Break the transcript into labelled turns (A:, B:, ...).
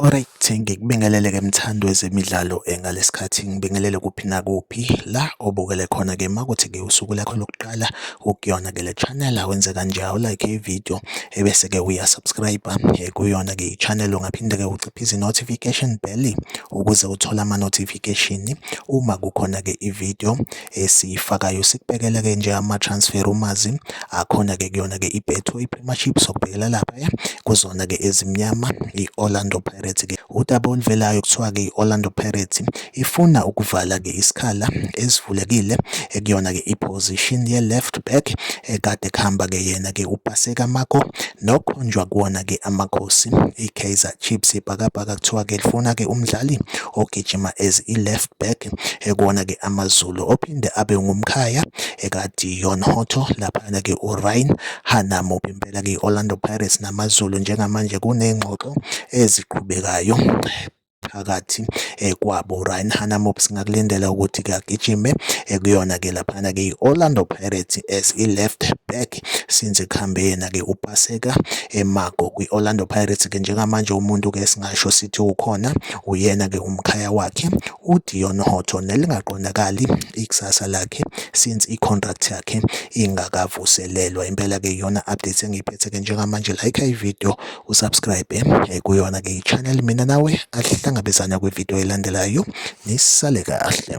A: Alright, ngikubingelele ke mthandi wezemidlalo eh, ngalesikhathi ngibingelele kuphi nakuphi la obukele khona ke makuthi ke usuku lakho lokuqala ukuyona ke le channel awenze kanje awulike ivideo ebese ke uya subscribe eh, kuyona ke ichannel ungaphinde ke uciphise notification bell ukuze uthole ama notification uma kukhona ke ivideo Esiyifakayo sikubhekela-ke nje ama-transfer rumours-i akhona-ke kuyona-ke i-Betway Premiership sokubhekela laphaya kuzona-ke ezimnyama i-Orlando Pirates-ke. Udaba oluvelayo kuthiwa-ke i-Orlando Pirates ifuna ukuvala-ke isikhala esivulekile ekuyona-ke i-position ye-left back ekade kuhamba-ke yena-ke uPaseka Mako nokhonjwa kuwona-ke amakhosi i-Kaizer Chiefs. Ibhakabhaka kuthiwa-ke lifuna-ke umdlali ogijima as i-left back Mtshali ekona ke AmaZulu ophinde abe ngumkhaya ekaDion Hotto laphana ke uRyan Hanamo impela ke Orlando Pirates namaZulu njengamanje kunengxoxo eziqhubekayo phakathi eh, kwabo Ryan Hanamop singakulindela ukuthi kuyagijime eh, kuyona ke laphana ke i-Orlando Pirates as i-left back since ekuhambe yena ke upaseka emago eh, kwi-Orlando Pirates ke njengamanje umuntu ke singasho sithi ukhona Uyena-ke umkhaya wakhe uDeon Hotto nelingaqondakali ikusasa lakhe since i-contract yakhe ingakavuselelwa. Impela-ke iyona update engiyiphethe-ke njengamanje like ivideo usubscribe eh, kuyona-ke i-channel mina nawe asihlangabezana kwivideo elandelayo nisale kahle.